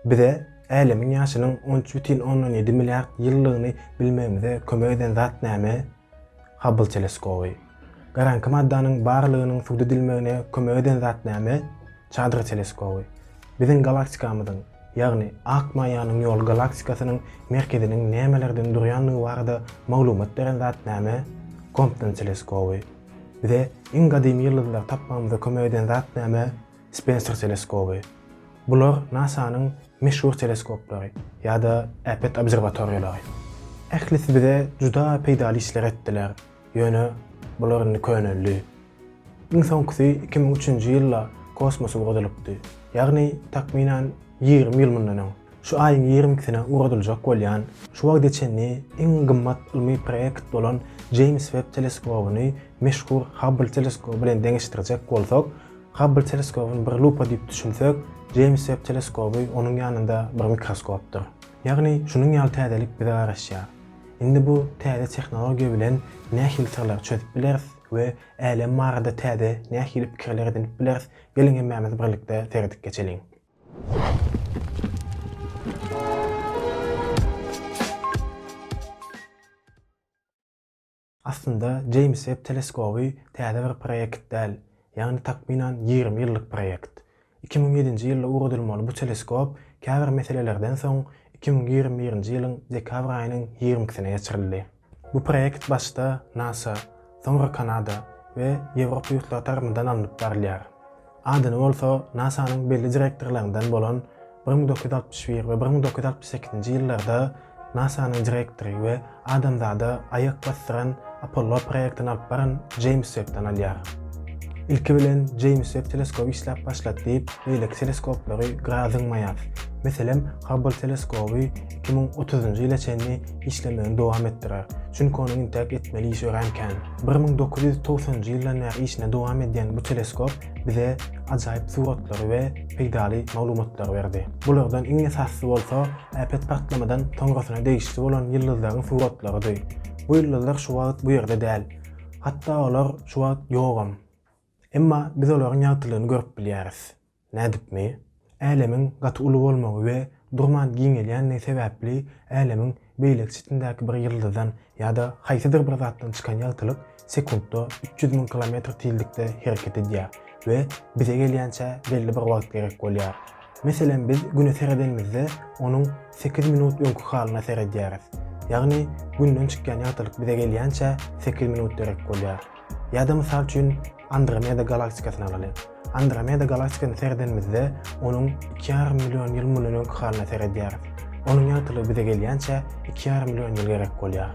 Bize Älemiň ýaşynyň on üç bütin ondan ýedi milliard ýyllygyny bilmegimize kömek eden zat näme? Habbl teleskoby. Garaňky maddanyň barlygynyň subut edilmegine kömek eden zat näme? Çadra teleskoby. Biziň galaktikamyzyň, ýagny Ak maýanyň ýoly galaktikasynyň merkeziniň nämelerden durýandygy barada maglumat beren zat näme? Kompton teleskoby. Bize iň gadymy ýyldyzlary tapmagymyza kömek eden zat näme? Spenser teleskoby. Bular NASA-nyň meşhur teleskoplary ýa-da äpet obserwatoriýalary. Ählisi bize juda peýdaly işler etdiler, ýöne bular indi köneldi. Iň soňkusy iki müň üçünji ýylda kosmosa ugradylypdy, ýagny takmynan ýigrimi ýyl mundan öň. Şu aýyň ýigrimi ikisine ugradyljak bolýan, şu wagta çenli iň gymmat ylmy proýekt bolan Jeýms Webb teleskobyny meşhur Hubble teleskoby bilen deňeşdirjek bolsak, Habbl teleskobyny bir lupa diýip düşünsek, Jeýms Webb teleskoby onuň ýanynda bir mikroskopdyr. Ýagny, şunuň ýaly täzelik bize garaşýar. Indi bu täze tehnologiýa bilen nähili syrlary çözüp bileris we älem barada täze nähili pikirler edinip bileris, geliň hemmämiz birlikde seredip geçeliň. Aslynda Jeýms Webb teleskoby täze bir proýekt däl, ýagny takmynan ýigrimi ýyllyk proýekt. Iki müň ýedinji ýylda ugradylmaly bu teleskop käbir meselelerden soň iki müň ýigrimi birinji ýylyň dekabr aýynyň ýigrimi ikisine geçirildi. Bu proýekt başda nasa, soňra Kanada we Ýewropa ýurtlary tarapyndan alnyp barylýar. Adyny bolsa NASA-nyň belli direktorlaryndan bolan bir müň dokuz ýüz altmyş bir we bir müň dokuz ýüz altmyş sekizinji ýyllarda NASA-nyň direktory we adamzada aýak basdyran Apollo proýektini alyp baran Jeýms Webbden alýar. Ilki bilen Jeýms Webb teleskoby işläp başlat diýip, beýleki teleskoplary gyra zyňmaýar. Meselem, Hubble teleskoby 2030-njy ýyla çenli işlemegini dowam etdirer. Çünki onuň intäk etmeli işi örän kän. 1990-njy ýyldan bäri işini dowam edýän bu teleskop bize ajaýyp suratlary we peýdaly maglumatlary berdi. Bulardan iň esasysy bolsa äpet partlamadan soňrasyna degişli bolan ýyldyzlaryň suratlarydy. Bu ýyldyzlar şu wagt bu ýerde däl. Hatda olar şu wagt ýogam. Emma biz olaryň ýagtylygyny görüp bilýäris. Nädipmi? Älemiň gaty uly bolmagy we durman giňelýändigi sebäpli Älemiň beýleki çetindäki bir ýyldyzdan ýa-da haýsydyr bir zatdan çykan ýagtylyk sekuntda üç ýüz müň kilometr tizlikde hereket edýär we bize gelýänçä belli bir wagt gerek bolýar. Meselem biz Güne seredenimizde onuň sekiz minut öňki halyna seredýäris. Ýagny Günden çykýan ýagtylyk bize gelýänçä sekiz minut derek bolýar. Ýa-da mysal üçin Andromeda galaktikasyny alaly. Andromeda galaktikasyny seredenimizde, onuň iki ýarym million ýyl mundan öňki halyna seredýäris. Onuň ýagtylygy bize gelýänçä iki ýarym million ýyl gerek bolýar.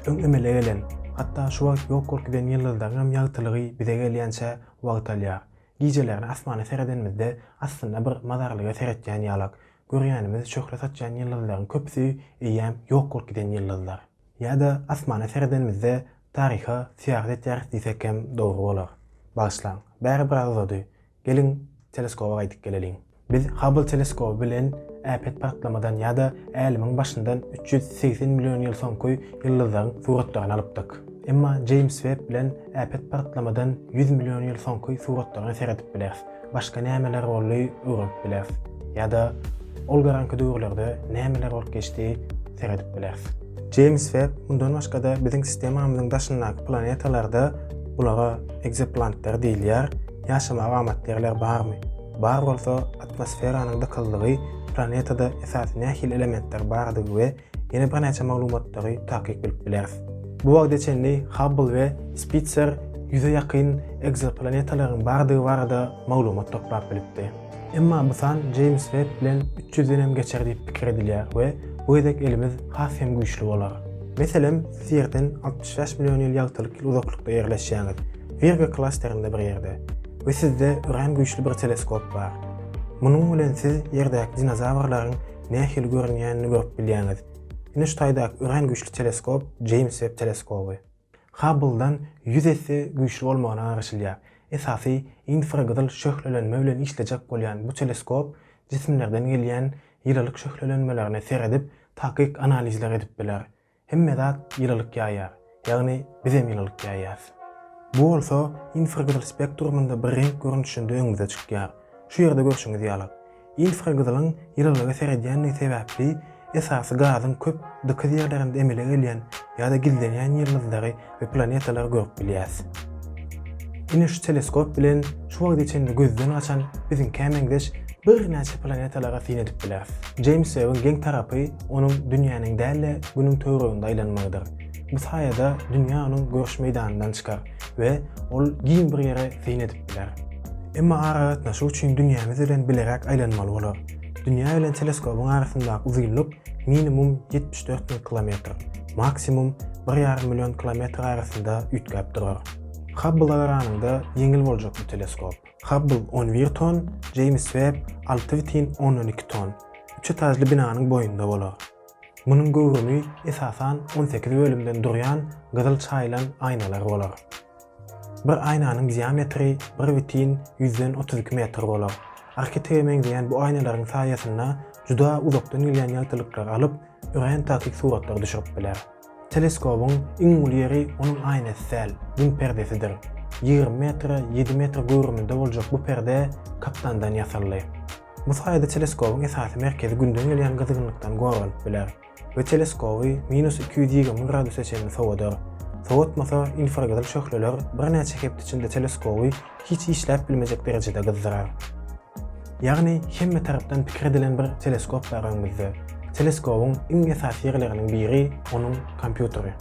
Öň emele gelen, hatda şu wagt ýok bolup giden ýyldyzlaryňam ýagtylygy bize gelýänçä wagt alýar. Gijelerine asmana seredenimizde, aslynda bir mazarlyga seretýän ýalak. Görýänimiz şöhle saçýan ýyldyzlaryň köpüsi eýýäm ýok bolup giden ýyldyzlar. Ýa-da asmana seredenimizde taryha syýahat etýäris diýsek hem dogry bolar. Bagyşlaň, bäri biraz uzady. Geliň, teleskoba gaýdyp geleliň. Biz Hubble teleskoby bilen äpet partlamadan ýa-da Älemiň başyndan üç ýüz segsen million ýyl soňky ýyldyzlaryň suratlaryny alypdyk. Emma Jeýms Webb bilen äpet partlamadan ýüz million ýyl soňky suratlaryna seredip bileris. başga nämeler boldy öwrenip bileris ýa-da ol garanky döwürlerde nämeler bolup geçdi seredip bileris. Jeýms Webb mundan başga-da biziň sistemamyzyň daşyndaky planetalarda, bulara ekzoplantlar diýilýär, ýaşamaga amatly ýerler barmy? Bar bolsa, atmosferanyň dykyzlygy, planetada esasy nähili elementler bardygy we Ýene birnäçe maglumatlary takyk bilip bileris. Bu wagta çenli Hubble we Spitzer ýüze ýakyn ekzoplanetalaryň bardygy barada maglumat toplap bilipdi. Emma bu san Jeýms Webb bilen üç ýüzden hem geçer diýip pikir edilýär we bu gezek elimiz has hem güýçli bolar. Meselem, siz Ýerden altmyş bäş million ýyl ýagtylyk ýyl uzaklykda ýerleşýäňiz, Wirgo klasterinde bir ýerde, we sizde örän güýçli bir teleskop bar. Munuň bilen siz Ýerdäki dinozawrlaryň nähili görünýänini görüp bilýäňiz. Güneş taýdaky örän güýçli teleskop Jeýms Webb teleskoby. Hubble-dan ýüz esse güýçli bolmagyna garaşylýar. Esasy infragyzyl şöhlelenme bilen işlejek bolýan bu teleskop jisimlerden gelýän ýylylyk şöhlelenmelerine seredip, takyk analizler edip biler. Hemme zat ýylylyk ýaýýar, ýagny bizem ýylylyk ýaýýas. Bu bolsa infragyzyl spektrumynda bir reňk görnüşinde öňümize çykýar. Şu ýerde görşüňiz ýaly, infragyzylyň ýylylyga seredýändigi sebäpli esasy gazyň köp dykyz ýerlerinde emele gelýän ýa-da gizlenýän ýyldyzlary we planetalary görüp bilýäs. Ine şu teleskop bilen şu wagta çenli gözden gaçan biziňkä meňzeş birnäçe planetalara syn edip bileris. Jeýms Webbiň geň tarapy onuň dünýäniň däl-de günüň töwereginde aýlanmagydyr. Bu saýada dünýä onuň görüş meýdanyndan çykar we ol giň bir ýere syn edip biler. Emma aragatnaşyk üçin dünýämiz bilen bileräk aýlanmaly bolar. Dünýä bilen teleskobyň arasyndaky uzynlyk minimum ýetmiş dört müň kilometr. maksimum bir ýarym million kilometr arasynda üýtgäp durar. Hubble agranyňda ýeňil boljak bu teleskop. Hubble on bir ton, Jeýms Webb alty bütin ondan iki ton, üç etajly binanyň boýunda bolar. Munuň göwrümi esasan on sekiz bölümden durýan gyzyl çaýylan aýnalar bolar. Bir aýnanyň diametri bir bütin ýüzden otuz iki metr bolar. Arhitrige meňzeýän bu aýnalaryň saýasynda juda uzakdan gelýän ýagtylyklary alyp, örän takyk suratlary düşürip biler. Teleskobyň iň uly ýeri onuň aýnasy däl, Gün perdesidir. Ýigrimi metre ýedi metr göwrüminde boljak bu perde kaptandan ýasaldy. Bu saýada teleskobyň esasy merkezi Günden gelýän gyzgynlykdan goranyp biler. we teleskoby minus iki ýüz ýigrimi graduse çenli sowadar. Sowatmasa, infragyzyl şöhleler birnäçe hepde içinde teleskoby hiç işläp bilmejek derejede gyzdyrar. Ýagny, hemme tarapdan pikir edilen bir teleskop bar öňümizde. Teleskobyň iň esasy ýerleriniň biri onuň kompýuteri.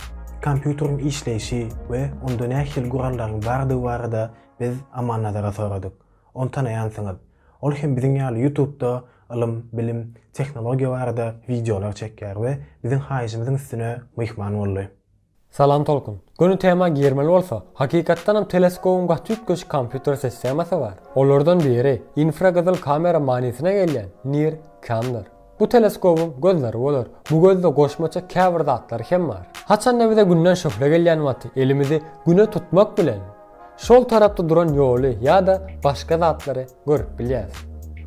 Kompýuteriň işleýşi we onda nähili gurallaryň bardygy barada biz Aman Nazara soradyk. Ony tanaýansyňyz. Ol hem biziň ýaly ýutubda ylym, bilim, tehnologiýa barada wideolar çekýär we biziň haýyşymyzyň üstüne myhman boldy. Salam Tolkun. Göni tema girmeli bolsa, hakykatdanam teleskobyň gaty üýtgeşik kompýuter sistemasy bar. Olardan biri, infragyzyl kamera manysyna gelýän, Nir, Kamdyr. Bu teleskobyň gözleri bolar. Bu gözde goşmaça käbir zatlar hem bar. Haçanda bize Günden şöhle gelýän wagty elimizi Güne tutmak bilen, şol tarapda duran ýoly ýa-da başga zatlary görüp bilýäs.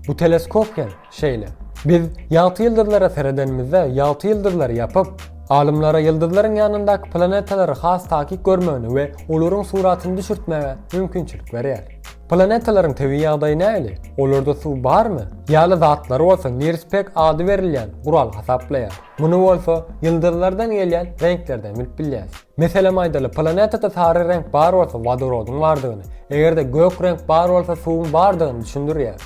Bu teleskop hem şeýle. Biz ýagty ýyldyzlara seredenimizde ýagty ýyldyzlary ýapyp, alymlara ýyldyzlaryň ýanyndaky planetalary has takyk görmegine we olaryň suratyny düşürtmäge mümkinçilik berýär. Planetalaryň tebigy ýagdaýy nähili? Olarda suw barmy? ýaly zatlary bolsa Nirspek ady berilýän gural hasaplaýar. Muny bolsa ýyldyzlardan gelýän reňklerden bilip bilýäs. Meselem aýdaly, planetada sary reňk bar bolsa wodorodyň bardygyny, eger-de gök reňk bar bolsa suwuň bardygyny düşündirýär.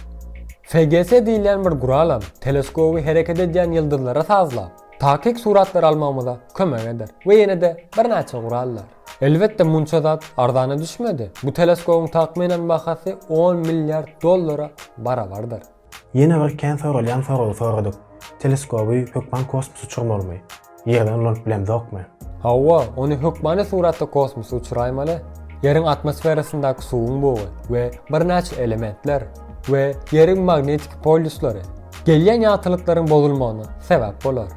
FGS diýilýän bir guralam teleskoby hereket edýän ýyldyzlara sazlap, takyk suratlar almagymyza kömek eder we ýene-de birnäçe gurallar. Elbetde munça zat arzana düşmedi. Bu teleskobyň takmynan bahasy on milliard dollara barabardyr. Ýene bir kän soralýan soragy soradyk. Teleskoby hökman kosmosa uçurmalymy? Ýerden ulanyp bilemzokmy? Hawa, ony hökmany suratda kosmosa uçuraýmaly. Ýeriň atmosferasyndaky suwuň bugy we birnäçe elementler we Ýeriň magnetiki polýuslary gelýän ýagtylyklaryň bozulmagyna sebäp bolar.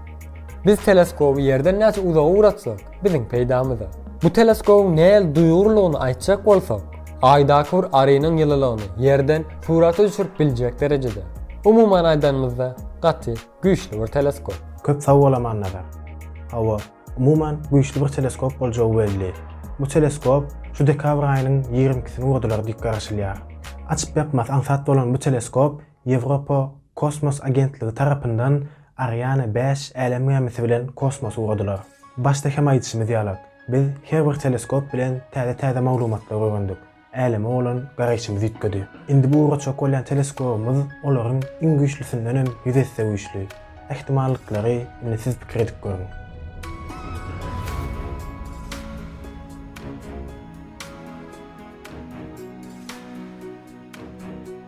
Biz teleskoby Ýerden näçe uzaga ugratsak, biziň peýdamyza. Bu teleskobyň nähili duýgurlygyny aýtjak bolsak, Aýdaky bir arynyň ýylylygyny Ýerden surata düşürip biljek derejede. Umuman aýdanymyzda, gaty güýçli bir teleskop. Köp sag bol Amannazar. Hawa, umuman güýçli bir teleskop boljagy belli. Bu teleskop şu dekabr aýynyň ýigrimi ikisini urdular diýip garaşylýar. Açyp-ýapmasy aňsat bolan bu teleskop Ýewropa kosmos agentligi tarapyndan Ariane bäş älem gämisi bilen kosmosa ugradylar. Başda hem aýdyşymyz ýalak, biz her bir teleskop bilen täze-täze maglumatlary öwrendik, äleme bolan garaýşymyz üýtgedi. Indi bu ugraçak bolýan teleskobymyz olaryň iň güýçlüsinden hem ýüz esse güýçli. Ähtimallyklary indi siz pikir edip görüň.